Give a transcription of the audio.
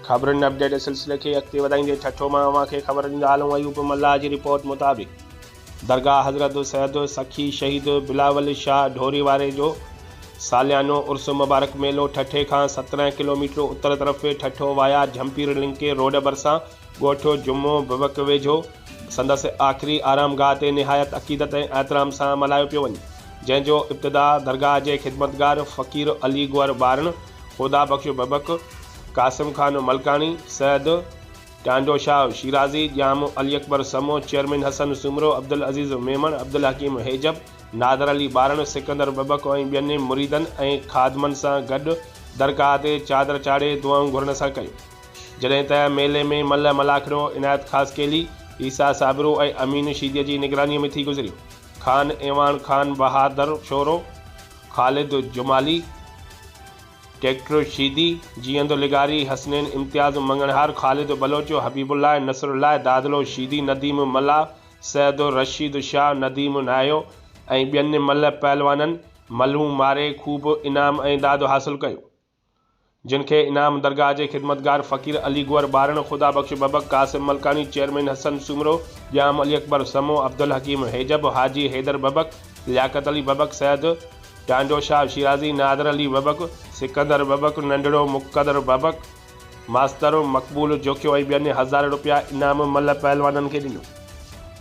خبرن اپڊيٽ جي سلسلي کي اڳتي وڌائيندي ٺٽو مان اوهان کي خبر ڏيندالون ايوب ملاح جي رپورٽ مطابق درگاهه حضرت سيد سخي شهيد بلاول شاهه ڍوري واري جو ساليانو عرس مبارڪ ميلو ٺٽي کان سترهن ڪلوميٽر اتر طرف Thatta via Jhimpir link road ڀرسان ڳوٺ جمعو بوڪ ويجهو سندس آخري آرام گاهه تي نهايت عقيدت ۽ احترام سان ملهايو پيو وڃي جنهن جو ابتدا درگاهه جي خدمتگار فقير علي گوهر ٻارڻ خدا بخش ببڪ، قاسم خان ملڪاڻي، سيد ٽانڊو شاهه شيرازي، ڄام علي اڪبر سمون، چيئرمين حسن سومرو، عبدالعزيز ميمڻ، عبدالحڪيم هيجب، نادر علي ٻارڻ، سڪندر ببڪ ۽ ٻين مريدن ۽ خادمن سان گڏ درگاهه تي چادر چاڙهي دعائون گهرڻ سان ڪيون. جڏهن ته ميلي ۾ ملهه ملاکڙو، عنايت خاصخيلي، عيسيٰ صابرو ۽ امين شيديء جي نگرانيء ۾ ٿي گذريو. خان ايوان خان بهادر شورو، خالد جمالي، ڊيڪٽر شيدي، جيئندو لغاري، حسنين امتياز، مڱڻهار، خالد بلوچ، حبيب الله، نصر الله، دادلو شيدي، نديم ملاح، سيد رشيد شاهه، نديم ناهيو ۽ ٻين ملهه پهلوانن ملهون ماري خوب انعام ۽ داد حاصل ڪيون. جن کي انعام درگاهه جي خدمتگار فقير علي گوهر ٻارڻ، خدا بخش ببڪ، قاسم ملڪاڻي، چيئرمين حسن سومرو، ڄام علي اڪبر سمو، عبدالحڪيم هيجب، حاجي حيدر ببڪ، لياقت علي ببڪ سيد، ٽانڊو شاهه شيرازي، نادر علي ببڪ، سڪندر ببڪ، ننڍڙو مقتدر ببڪ، ماستر مقبول جوکيو ۽ ٻين هزارين رپيا انعام ملهه پهلوانن کي ڏنو.